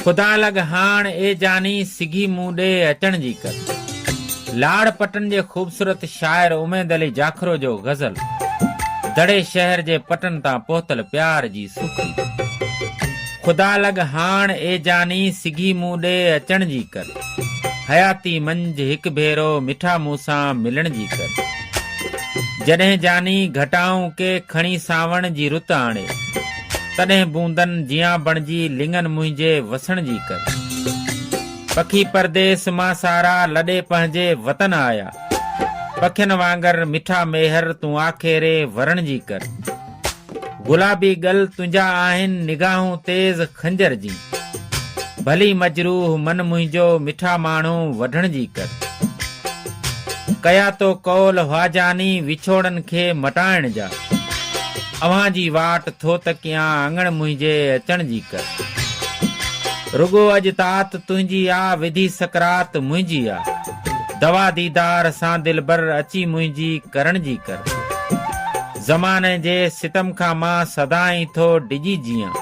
خدا لڳ هاڻ اي جاني سگهي مون ڏي اچڻ جي ڪر. لاڙ پٽن جي خوبصورت شاعر اميد علي جاکرو جو غزل دڙي شهر جي پٽن تان پهتل پيار جي سوکڙي خدا لڳ هاڻ اي جاني سگهي مون ڏي اچڻ جي ڪر حياتي منجهه هڪ ڀيرو مٺا مون سان ملڻ جي ڪر جڏهن جاني گهٽائون ڪي کڻي سانوڻ جي رت آڻي. تڏهن بوندن جيان بڻجي لڱن منهنجي وسڻ جي ڪر. پکي پرديس مان سارا لڏي پنهنجي وطن آيا. پکين وانگر مٺا ميهر تون آکيري ورڻ جي ڪر. گلابي ڳل تنهنجا آهن نگاهون تيز خنجر جين. ڀلي مجروح من منهنجو مٺا ماڻهو وڍڻ جي ڪر. ڪيا تو قول هئا جاني وڇوڙن کي مٽائڻ جا. اوهان جي واٽ ٿو تڪيان اڱڻ منهنجي اچڻ جي ڪر رڳو اڄ تات تنهنجي آ وڌي سڪرات منهنجي آ دوا ديدار سان دلبر اچي منهنجي ڪرڻ جي ڪر زماني جي ستم کان مان سدائين ٿو ڊڄي جيئان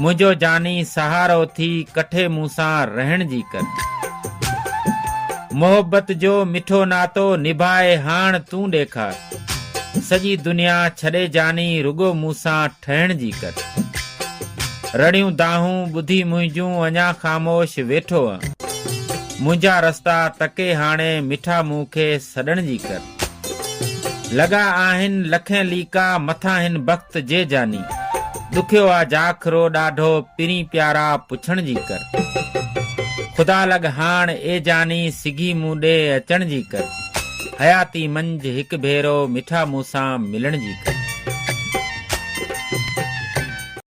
منهنجو جاني سهارو ٿي ڪٺي مون سان رهڻ جي ڪر محبت جو مٺو ناتو نڀائي هاڻ تون ڏيکار. سڄي دنيا ڇڏي جاني رڳو مون سان ٺهڻ جي ڪر. رڙيون دانهون ٻڌي منهنجون اڃا خاموش ويٺو انء منهنجا رستا تڪي هاڻي مٺا مون کي سڏڻ جي ڪر. لڳا آهن لکين ليڪا مٿان هن بخت جي جاني ڏکيو آ جاکرو ڏاڍو پرين پيارا پڇڻ جي ڪر. خدا لڳ هاڻ اي جاني سگهي مون ڏي اچڻ جي ڪر. حياتي منجھ ھڪ ڀيرو مٺا مون سان ملڻ جي ڪر.